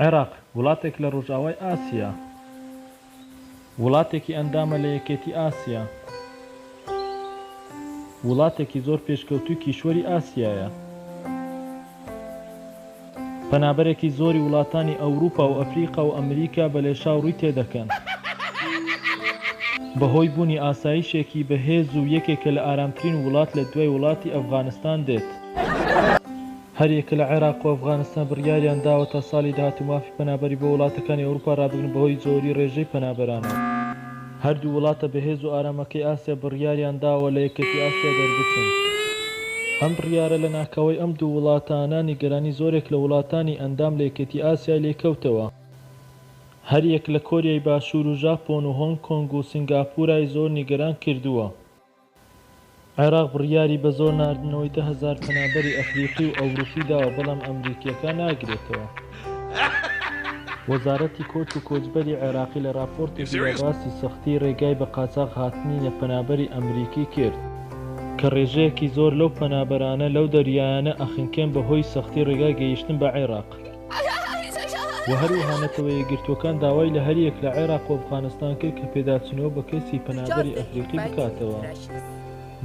عێراق، وڵاتێک لە ڕۆژئاوای ئاسیا. وڵاتێکی ئەندامە لە یەکێتی ئاسیا. وڵاتێکی زۆر پێشکەوتووی کیشوەری ئاسیایە. پەنابەرێکی زۆری وڵاتانی ئەوروپا و ئەفریقا و ئەمریکا بە لێشاو ڕووی تێدەکەن. بەهۆی بوونی ئاسایشێکی بەهێز و یەکێکە لە ئارامترین وڵات لە دوای وڵاتی ئەفغانستان دێت. هەریەکە لە عێراق و ئەفغانستان بڕیاریان داوە تا ساڵی داهاتوو مافی پەنابەری بۆ وڵاتەکانی ئەوروپا رابگرن بەهۆی زۆری رێژەی پەنابەرانەوە. هەردوو وڵاتە بەهێز و ئارامەکەی ئاسیا بڕیاریان داوە لە یەکێتی ئاسیا دەربچن. ئەم بڕیارە لە ناکاوەی ئەم دوو وڵاتانە نیگەرانی زۆرێک لە وڵاتانی ئەندام لە یەکێتی ئاسیای لێکەوتەوە. هەریەک لە کۆریای باشوور و ژاپۆن و هۆنگ کۆنگ و سینگاپورای زۆر نیگەران کردووە. عێراق بڕیاری بە زۆر ناردنەوەی دە هەزار پەنابەری ئەفریقی و ئەوروپی داوە، بەڵام ئەمریکییەکان ناگرێتەوە. وەزارەتی کۆچ و کۆچبەری عێراقی لە ڕاپۆرتێکی دا باسی سەختیی ڕێگای بە قاچاخ هاتنی نە پەنابەری ئەمریکی کرد، کە ڕێژەیەکی زۆر لەو پەنابەرانە لەو دەریایانە ئەخنکێن بە هۆی سەختی ڕێگای گەیشتن بە عێراق. و هەروەها نەتەوە یەکگرتووەکان داوای لە هەریەک لە عێراق و ئەفغانستان کرد کە پێداچوونەوە بە کەیسی پەنابەری ئەفریقی بکاتەوە.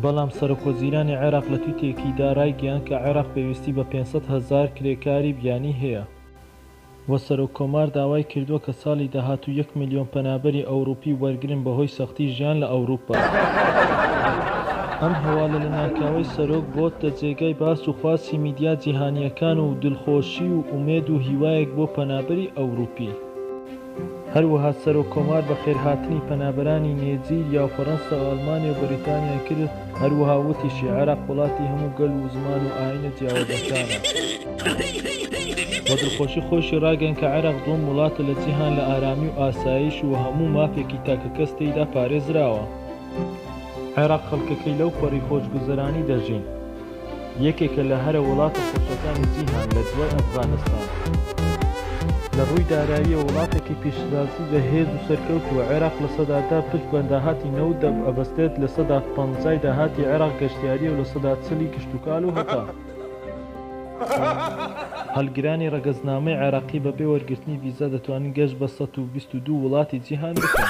بەڵام سەرۆکوەزیرانی عێراق لە تویتێکیدا رایگەیاند کە عێراق پێویستی بە پێنج سەد هەزار کرێکاری بیانی هەیە و سەرۆککۆمار داوای کردووە کە ساڵی داهاتوو یەک ملیۆن پەنابەری ئەوروپی وەرگرن بەهۆی سەختی ژیان لە ئەوروپا. ئەم هەوالە لەناکاوەی سەرۆک بۆتە جێگای باس و خواسی میدیا جیهانیەکان و دلخۆشی و ئومێد و هیوایەک بۆ پەنابەری ئەوروپی. هەروەها سەرۆک کۆمار بەخێرهاتنی پەنابەرانی نێجیریا و فەرەنسا و ئەلمانیا و بەریتانیای کرد، هەروەها وتیشی، عێراق وڵاتی هەموو گەل و زمان و ئاینە جیاوازەکانە و دلخۆشی خۆیشی راگەیاند کە عێراق دوەم وڵاتە لە جیهان لە ئارامی و ئاسایش و هەموو مافێکی تاکەکەس تێیدا پارێزراوە. عێراق خەڵکەکەی لەو پەڕی خۆشگوزەرانی دەژین یەکێکە لە هەرە وڵاتە خۆشەکانی جیهان لە دوای ئەفغانستان لە ڕووی داراییەوە وڵاتێکی پیشەسازی بە هێز و سەرکەوتووە عێراق لە سەدا دە پشت بە داهاتی نەوت ئەبەستێت لە سەدا پەنجای داهاتی عێراق گەشتیاریە و لە سەدا چل ی کشتوکال و هەتا هەڵگرانی ڕەگەزنامەی عێراقی بەبێ وەرگرتنی ڤیزا دەتوانن گەشت بە سەد و بیست و دوو وڵاتی جیهان بکەن.